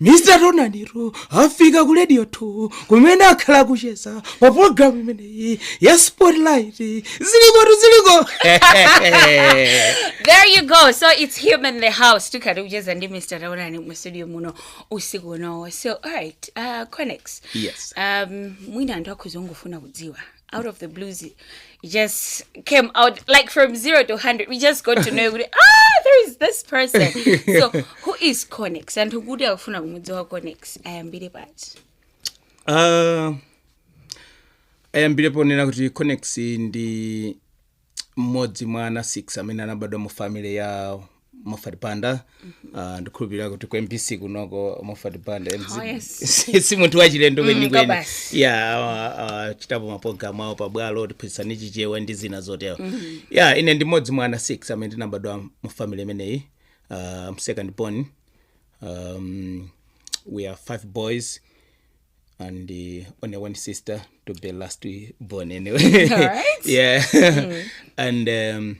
mr taonani tu afika ku radio 2 kumene akhala akucheza pa programu imeneyi ya spotlight zilikotu ziliko there you go so it's him in the house tikhala tikucheza ndi mr taonani mu studio muno usiku uno so alright uh, conex Yes. um, mwina anthu akhoza kungofuna kudziwa out of the blues it just came out like from zero to 100 we just got to know kuti, ah there is this person so who is conex anthu kuti akufuna kumudziwa conex ayambire pati Uh, ayambire ponena kuti conex ndi mmodzi mwa ana 6 amene anabadwa mu family ya mofat banda uh, ndikhulupirira kuti ku mbc kunoko mofat banda Oh, yes. si munthu wachilendo kwenikweni kabasi. ya uh, uh, achitapo mapologalamu awo pabwalo tiphunzitsani chichewa ndi zina zotero ya ine ndi mmodzi mwa ana 6 amene tinabadwa mu family imeneyi I'm second born um, we are five boys and only one sister to be last born anyway. All right. yeah. and um,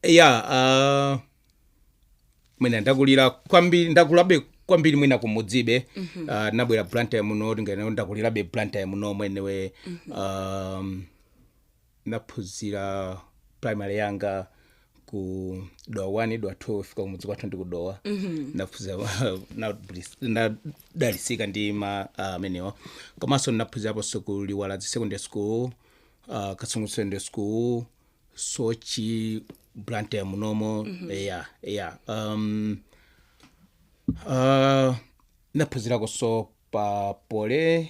yeah, uh, mwina ndakulira kwambiri ndakulabe kwambiri mwina kumudzibe mm-hmm. uh, ndabwera blantyre muno tinganene ndakulirabe blantyre muno mwenimweni mm-hmm. um, naphunzira primary yanga ku dowa 1 dowa 2 chifukwa kumudzi kwathu ndi kudowa naphuzira nadalisika ndi ma ah, amenewa komanso naphunziraponso ku liwaladzi secondary school ah, kasungu secondary school soche blantyre munomo eya eya um, Uh, naphunzirakonso pa poly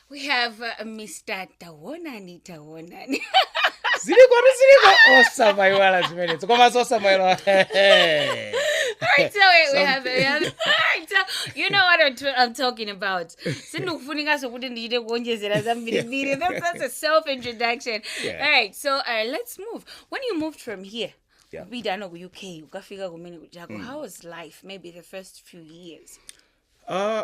We have uh, Mr. Tawonani Tawonani. ziliko tu ziliko osamayiwala zimenezo komanso osamayiwala Alright, so we, we have, we have alright, so you know what I'm, t- I'm talking about. Sindikufunikaso kuti ndichite kuonjezera zambirimbiri. That's, that's a self introduction. Yeah. Alright, so uh, let's move. When you moved from here, Yeah. kupitano ku UK, utafika kumene kujako, how was life? Maybe the first few years. Uh,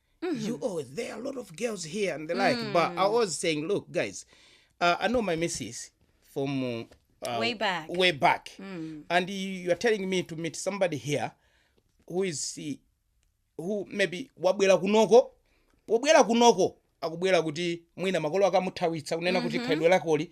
Mm-hmm. You oh, there are a lot of girls here and the like. But I was saying, look, guys, uh, I know my missus from uh, uh, Way back. way back, and you, you are telling me to meet somebody here who is uh, who maybe wabwera kunoko pobwera kunoko akubwera kuti mwina makolo akamuthawitsa kunena kuti khalidwe lakoli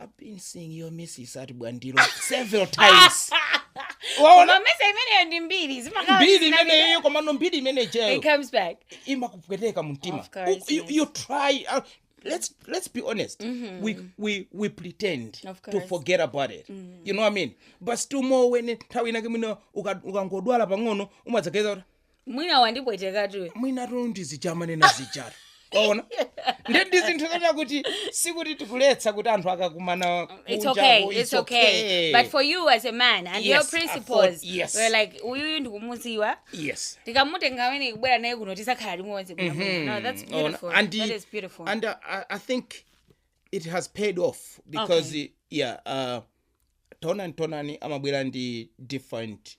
I've been seeing your missus at Bwandilo several times. Waona Koma mwayesa imeneyo ndi mbiri zimakhala mbiri zina- imene iyo komano mbiri imene ijayo It comes back. imakupweteka mumtima Of course, U- you, yes. you try uh, let's let's be honest we, we we pretend Of to course. forget about it you know what i mean but still more when nthawi inake mwina uka- ukangodwala pang'ono umadzageza kuti mwina wandipwetekatu. mwinatu ndi zija amanena zijatu waona ndi ndi zinthu zoti kuti sikuti tikuletsa kuti anthu akakumana kunjako, it's okay. But for you as a man and your principles, yes. we're like, uyuyu ndikumuziwa. yes tikamutenga ameneyu kubwera naye kuno tizakhala limodzi bwino bwino. no that's beautiful and that is beautiful and uh, I, i think it has paid off because Okay. yeah uh, taonani taonani amabwera ndi different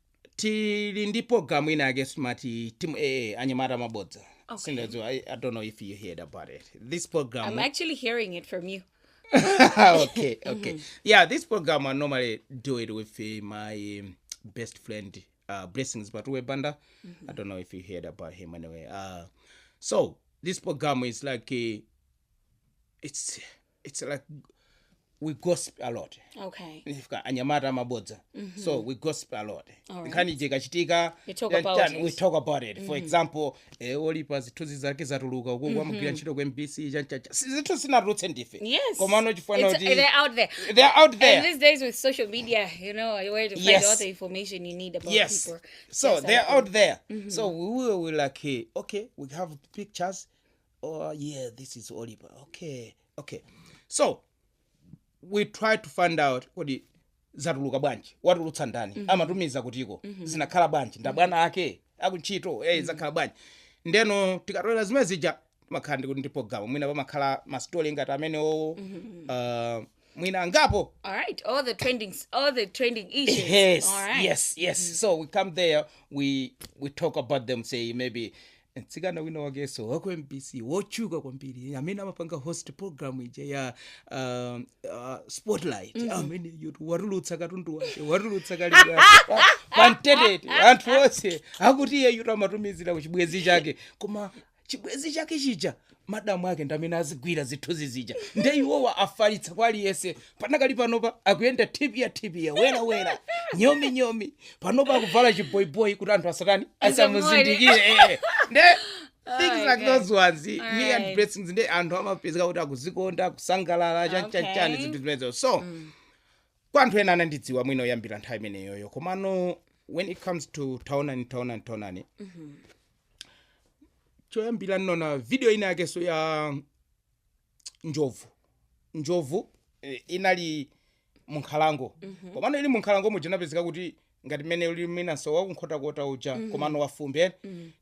tili ndi program ina yake smati timu ee anyamata mabodza Okay. sindadziwa I, i don't know if you heard about it this program I'm actually hearing it from you. okay okay yeah this program i normally do it with uh, my um, best friend uh, blessings batuwe banda i don't know if you heard about him anyway uh, so this program is like uh, it's it's like we gossip a lot okay Ifika, anyamata amabodza so we gossip a lot Alright. nkhani ije ikachitika You talk then about chan- it. we talk about it for example eh, olipa zithunzi zake zatuluka uko kwamugwira ntchito ku mbc chanchacha zithu sinatulutse ndife yes komano chifana It's- kuti they're out there they are out there And these days with social media, you know, where to find Yes. all the information you need about yes people. so Yes, they're I- out there so we will we like eh, okay we have pictures oh yeah this is oliver okay okay so we try to find out kodi zatuluka bwanji watulutsa ndani mm -hmm. amatumiza kutiko mm -hmm. zinakhala bwanji nda bwana mm -hmm. ake akuntchito mm -hmm. zakhala bwanji ndeno tikatolera zimene zija timakhala ndikuti ndi programu mwina pamakhala masitoli ngati amenewo mm -hmm. uh, mwina angapo All right, all the trending, all the trending issues. yes All right. yes yes so we come there we we talk about them say maybe mtsikana wina wake so waku mbc wotchuka kwambiri amene amapanga host program ija ya um, uh, spotlight mm -hmm. ameneyutu watulutsa katundu wake watulutsa kali pantetete anthu onse akuti iyeyutu amatumizira kuchibwenzi chake koma chibwezi chake chija madamu ake ndamene azigwira zithunzi zija nde iwowo afalitsa kwa aliyese panakali panopa akuyenda thiphya thiphya wera wera nyomi nyomi panopa akuvala chiboyiboyi kuti anthu asatani asamuzindikire eh. nde things like Okay. those ones me and Alright. blessings nde anthu amapezeka kuti akuzikonda kusangalala chanichani Okay. zinthu zimenezo so kwa anthu ena anandidziwa mwina kuyambira nthawi imeneyoyo komano when it comes to taonani taonani taonani choyambira ndinaona video ina yake so ya njovu njovu eh, inali munkhalango komano ili munkhalango muja inapezeka kuti ngati msewu uli wina so wakunkhotakota uja komano wafumbi eh?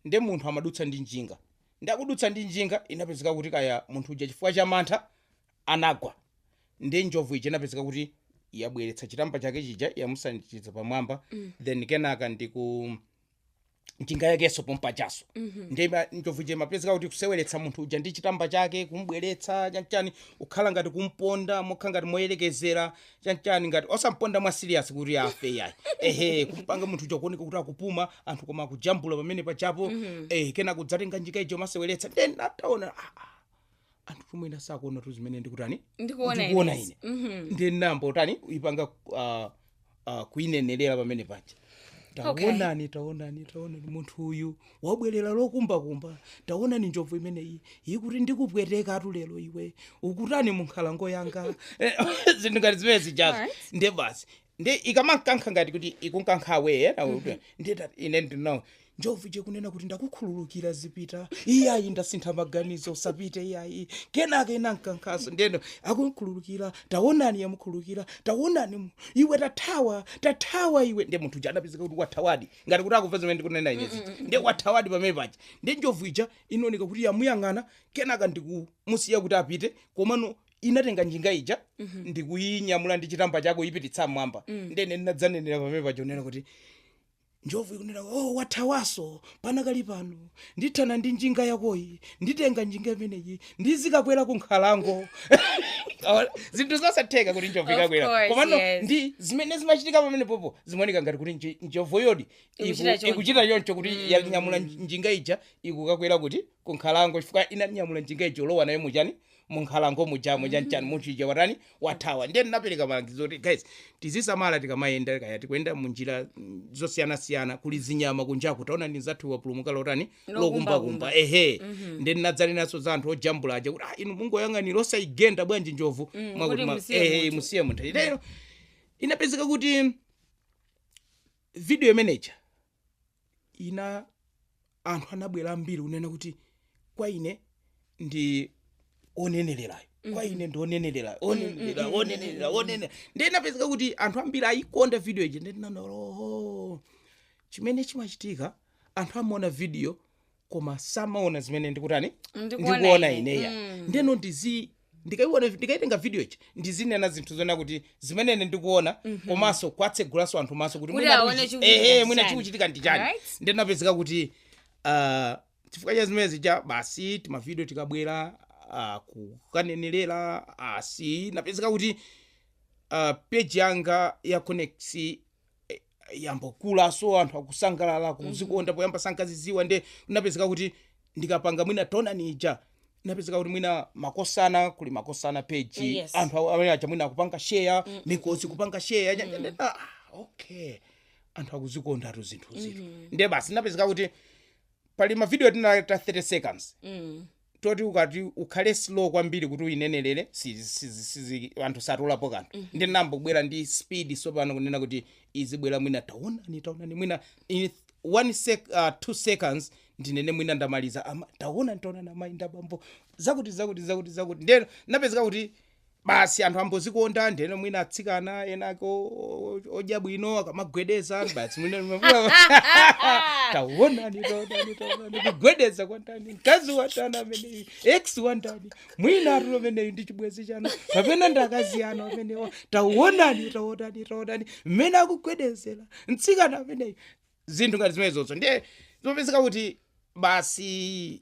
nde munthu amadutsa ndi njinga nde akudutsa ndi njinga inapezeka kuti kaya munthu uja chifukwa cha mantha anagwa nde njovu ija inapezeka kuti yabweretsa chitamba chake chija yamusanjikiza pamwamba then kenaka ndiku njinga yake so pompajaso nde ma- njovu ija imapezeka kuti ikuseweretsa munthu uja ndi chitamba chake kumubweretsa chanchani kukhala ngati kumponda mokhala ngati moyerekezera chanchani ngati osamponda mwa serious kuti afe yayi ehe kumpanga munthu uja kuoneka kuti akupuma anthu koma akujambula pamene pajapo eh kena kudzatenga njinga ija kumaseweretsa then nditaona ah, ah, anthutu mwina sakuonatu zimene ndikutani ndikuona ine Mhm. ndinangoitani kuipanga ah, ah, kuinenerera pamene paja Okay. taonani taonani taonani munthu uyu wabwerera lokumbakumba taonani njovu imeneyi ikuti ndikupwetekatu lero iwe ukutani munkhalango yanga Eh, zinthu ngati zimene zijazo Alright. nde basi ndi ikamankankha ngati kuti ikunkankha away nde ndati- ine ndinati oh njovu ija kunena kuti ndakukhululukira zipita iyayi ndasintha maganizo usapite iyayi kenaka inankankhaso ndeno yakukhululukira tawonani yamukhululukira tawonani mu- iwe tathawa tathawa iwe nde munthu uja anapezeka kuti wathawadi ngati kuti akumva zimene ndikunena ine zija nde wathawadi pamene paja nde njovu ija inaoneka kuti yamuyang'ana kenaka ndikumusiya kuti apite komano inatenga njinga ija ndikuyinyamula ndi chitamba chake kuyipititsa mmwamba nde ine ndinadzanenera pamene paja kunena kuti njovu ikunena oh wathawaso panakali pano ndithana ndi njinga yakoyi nditenga njinga imeneyi ndizikakwera ku nkhalango Awa- zinthu zosatheka kuti njovu Of ikakwera course, komano yes. ndi zimene zimachitika pamenepopo zimaoneka ngati kuti nji- njovu yodi iku- Ikuchita choncho. ikuchita choncho kuti yanyamula njinga ija ikukakwera kuti ku nkhalango chifukwa inanyamula njinga ija kulowa nayo muchani munkhalango mujamo chanchani munthu ija watani wathawa ndiye ndinapereka malangizo kuti guys tizisamala tikamayenda kaya tikuyenda munjira mm, zosiyanasiyana kuli zinyama kunjaku taonani nzathu wapulumuka lotani lokumbakumba ehe ndiye ndinadzanenanso za anthu ojambula aja kuti ah, inu mungoyang'anira osayigenda bwanji njovu Mwakuti kuti ma- musiye ehe, munthu. musiye munthu ndeno inapezeka kuti video imeneja ina anthu anabwera ambiri kunena kuti kwa ine ndi onenelerayo kwa ine ndi onenelerayo onenelera onenelera onenelera ndiye inapezeka kuti anthu ambiri ayikonda video ija nde ndinaona oh chimene chimachitika anthu amaona video koma samaona zimene ndikutani Ndikuona ndikuona ine. ineya Mm. ndeno ndizi ndikaiona ndikaitenga video ija ndizinena zinthu zona kuti zimene ine ndikuona komanso kwatsegulaso anthu maso kuti Kuti mwina aone tiuchi- chikuchitika ehe, ndi mwina chani. chikuchitika ndi chani Alright. nde napezeka kuti ah, chifukwa cha zimene zija basi timavidio tikabwera ah, kukanenerera basi napezeka kuti ah, page yanga ya Connect yambokulaso anthu akusangalala akuzikonda poyamba sankaziiziwa nde napezeka kuti ndikapanga mwina taonani ija napezeka kuti mwina makosana kuli makosana page Yes. anthu awo- amene aja mwina akupanga share mikozi kupanga share nya- nya- ah, okay anthu akuzikondatu zinthu zinthu nde basi napezeka kuti pali mavidiyo tina ta 30 seconds toti ukati ukhale slow kwambiri kuti uyinenerere si- si- si- sizi- anthu satolapo kanthu nde ndinayambo bwera ndi speed sopano kunena kuti izibwera mwina taonani taonani mwina in one sec, uh, two seconds ndinene mwina ndamaliza ama taonani taonani amayi ndi abambo zakuti zakuti zakuti zakuti ndeno napezeka kuti basi anthu ambozikonda ndeno mwina atsikana enako odya bwino akamagwedeza basi mwina mwina- taonani taonani taonani kugwedeza kwa ndani mkazi wa ndani ameneyu ex wa ndani mwina watani ameneyu ndi chibwenzi chanu kapena ndi akazi anu amenewa taonani taonani taonani mmene akugwedezera mtsikana ameneyu zinthu ngati zimenezozo ndiye zopezeka kuti basi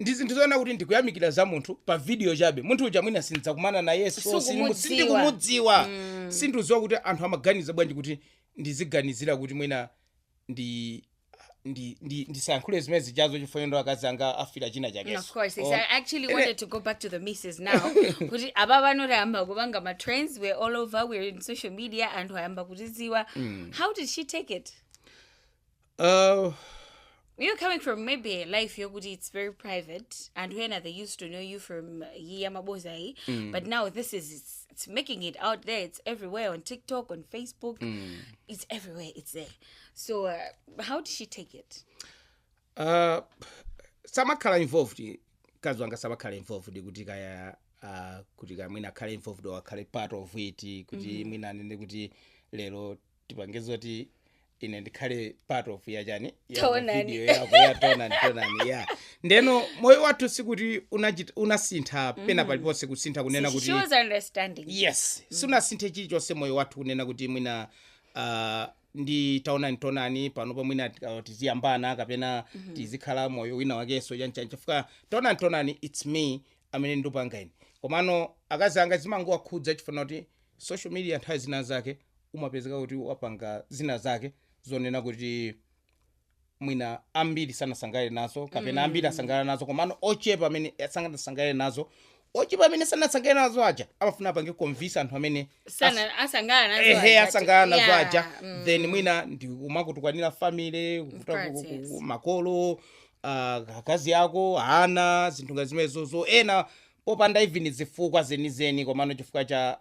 ndi zinthu zoona kuti ndikuyamikira za munthu pa video chabe munthu uja mwina sindidzakumana nayenso Sukumudziwa. sindimu- sindikumudziwa sindikudziwa kuti anthu amaganiza bwanji kuti ndiziganizira kuti mwina ndi ndi ndi ndisayankhule zimene zijazo chifukwa ndiye akazi anga afira china chake Of course, yes. I actually wanted to go back to the missus now. Kuti abambo ayamba kupanga ma trends. We're all over. We're on social media and ayamba kutidziwa. How did she take it? Uh, You're coming from maybe a life here, kuti it's very private, and when they used to know you from Yamabozai, but now this is it's, it's making it out there. It's everywhere on TikTok, on Facebook. It's everywhere. It's there. So uh, how did she take it? uh, samakhala involved mkazi wanga samakhala involved kuti kaya uh, kuti kaya mwina akhale involved or akhale part of it kuti mwina anene kuti lero tipange zoti ine ndikhale part of ya chani ya Taonani. video yako ya taonani taonani ya ndeno moyo wathu sikuti unachit- unasintha pena paliponse kusintha kunena She- kuti she was understanding yes sunasinthe chilichonse moyo wathu kunena kuti mwina uh, ndi taonani taonani panopa mwina tika- tiziyambana kapena tizikhala moyo wina wakenso chanchani chifukwa taonani taonani it's me amene ndupanga ine komano akazi anga zimangowakhudza chifukwa chakuti social media nthawi zina zake umapezeka kuti wapanga zina zake zonena kuti mwina ambiri sanasangalale nazo kapena mm. ambiri asangalala nazo komano ochepa amene sanasangalale nazo ochepa amene sanasangalale nazo aja amafuna apange convince anthu amene sana asangalala nazo ehe aja. asangalala nazo Yeah, aja mm. then mwina ndi kumakutukwanira family kukuta- course, ku- ku- yes. ku- makolo ah, akazi ako ana zinthu ngati zimenezozo ena popanda even zifukwa zenizeni komano chifukwa cha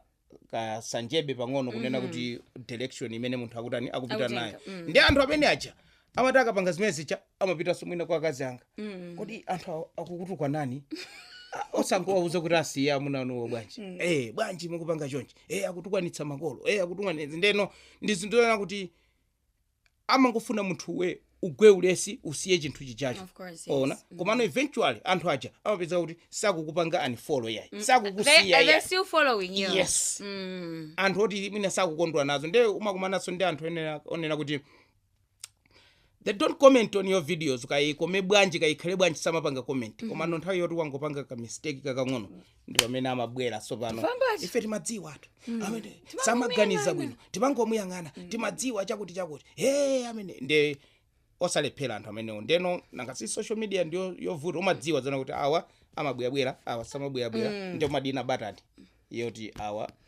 kansanjebe pang'ono kunena kuti direction imene munthu akutani akupita Akutenga, nayo mm. ndi anthu amene aja amati akapanga zimene zija amapitanso mwina kwa akazi anga Mm. kodi anthu awo akukutukwanani Ah, osangouza kuti asiye amuna anuwo bwanji eh bwanji mukupanga chonchi eh akutukwanitsa makolo eh akutukwanitsa ndeno ndi zinthu zoona kuti amangofuna munthuwe ugwe ulesi usiye chinthu chijacho Of course, yes. ona Mhm. komano eventually anthu aja amapeza kuti sakukupanga unfollow yayi They, sakukusiya they're yayi still following you. Yes. Mm. anthu oti mwina sakukondwa nazo nde umakumananso ndi anthu onena- onena kuti they don't comment on your videos kayikome bwanji kayikhale bwanji samapanga comment komano nthawi yoti wangopanga ka mistake kakang'ono ndi pamene amabwera tsopano Vambacho. ife timadziwa anthu amene samaganiza bwino timangomuyang'ana timadziwa chakuti chakuti hey amene nde osalephera anthu amenewo ndeno nanga si social media ndiyovuta umadziwa zonena kuti awa amabwerabwera awa samabwerabwera ndiye umadina batani yoti awa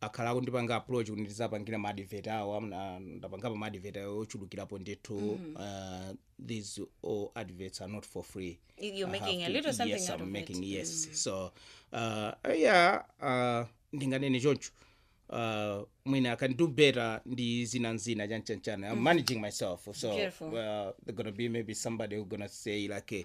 akhala akundipanga approach kuti ndizapangire ma advert awo amna- ndapangapo ma advert awo ochulukirapo ndithu uh, these all adverts are not for free You- you're I have making a to- little something yes, out I'm of it. making, yes so uh, yeah uh, ndinganene choncho uh, mwina i can do better ndi zina nzina chanchanchana i'm managing myself so Beautiful. uh, they're gonna be maybe somebody who gonna say like eh,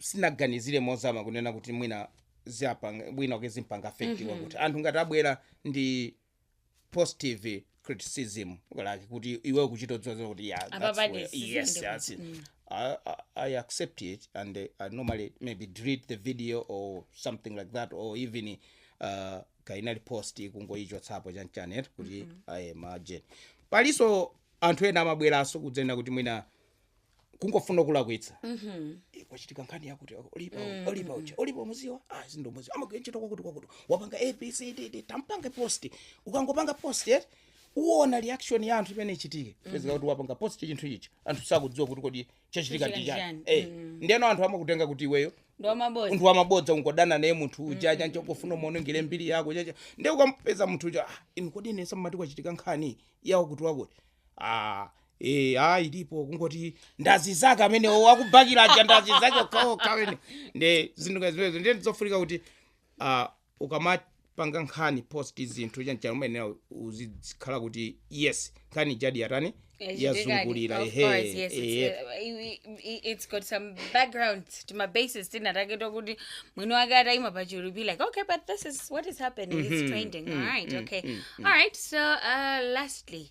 sinaganizire mozama kunena kuti mwina ziapanga mwina like zimpanga affect mm kuti anthu ngati abwera ndi positive criticism like kuti iwe ukuchita kudziwa kuti yeah, Apa that's pali where- sizili yes kuti, that's it. I, I, I accept it and uh, I normally maybe delete the video or something like that or even uh, kainali post kungoichotsapo chanichani eti kuti imagine palinso anthu ena amabweranso kudzanena kuti mwina kungofuna kulakwitsa Eh, kwachitika nkhani yakuti Olipa Olipa uja Olipa umudziwa ah sindimudziwa amagwira ntchito kwakuti kwakuti wapanga abcd tampange post ukangopanga post eti uona reaction ya anthu imene ichitike pezeka kuti wapanga post chinthu ichi anthu sakuidziwa kuti kodi chachitika ndi Chachitika chani ndi eh ndiyeno anthu amakutenga kuti iweyo ndi wamabodza munthu wamabodza ungodana naye munthu uja chancho kufuna umuonongere mbiri yake chanichani ndiye ukampeza munthu uja ah, inu kodi nesa mmati kwachitika nkhani yawo kuti wakuti ah, Eh, ah, ilipo kungoti ndi azinzake amenewo akumubakira aja ndi azinzake okhaokha amene nde zinthu ngati zimenezo ndiye ndizofunika kuti ah, ukamapanga nkhani post zinthu chanichani umayenera uzikhala kuti yes nkhani ijadi yatani yazungulira Of ehe, course, yes, it's, ehe. uh, i- i- i- it's got some background to my basis zinazake zokuti mwini wake ataima pa chulu be like okay but this is what is happening it's trending all right okay all right so uh, lastly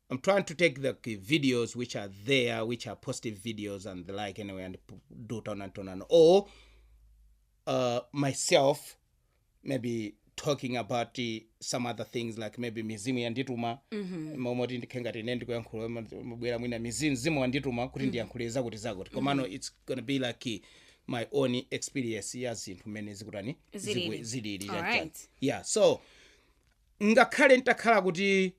I'm trying to take the k- videos which are there, which are positive videos and the like anyway, and p- do Taonani and or uh, myself maybe talking about uh, some other things like maybe mizimu yandituma momwe kuti ndikhale ngati ine ndikuyankhula mobwera mwina mizimu mzimu wandituma kuti ndiyankhule zakuti zakuti komano it's gonna be like uh, my own experience ya zinthu mmene zikutani Zilili. zikwe- zilili Alright. chanichani. yeah so ngakhale ntakhala kuti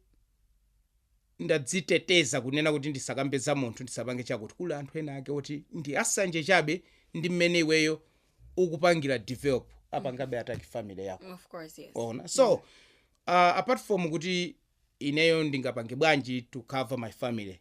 ndadziteteza kunena kuti ndisakambe za munthu ndisapange chakuti kuli anthu ena ake oti ndi asanje chabe ndi mmene iweyo ukupangira develop apangabe attack family yako of course yes ona so, uh, apart from kuti ineyo ndingapange bwanji to cover my family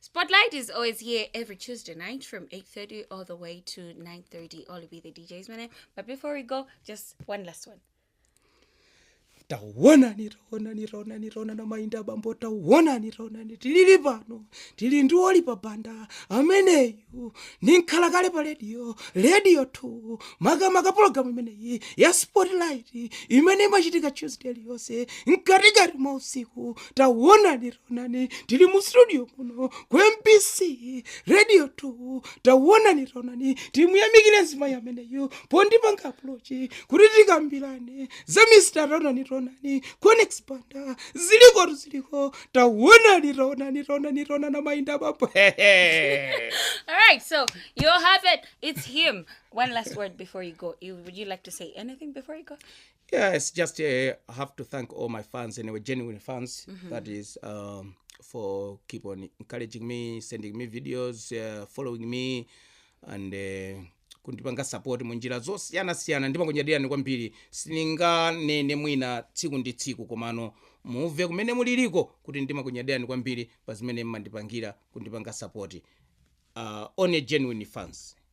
Spotlight is always here every Tuesday night from 8.30 all the way to 9.30. Olipa the DJ's my name. But before we go, just one last one. tawonani tawonani tawonani tawonani amayi ndi abambo tawonani tawonani tilili pano tili ndi Olipa Banda ameneyu ndi nkhalakale pa rediyo rediyo 2 makamaka pologalamu imeneyi ya spotlight imene imachitika tuesday iliyonse mkatikati mwa usiku tawonani onani tili mu studio muno ku mbc radio 2 tawonani taonani timuyamikire mzimayi ameneyu pondipanga approach kuti tikambirane za mr taonani taonani conex banda ziliko tu ziliko tawonani taonani taonani taonani mayinda bambo All right, so you have it. It's him. One last word before you go. You, would you like to say anything before you go? Yeah, it's just uh, I have to thank all my fans anyway, genuine fans. That is um, for keep on encouraging me, sending me videos, uh, following me, and uh, kundipanga support munjira zosiyana siyana ndimakunyadirani kwambiri sininganene mwina tsiku ndi tsiku komano muve kumene muliliko kuti ndimakunyadirani kwambiri pa zimene mmandipangira kundipanga support uh, only genuine fans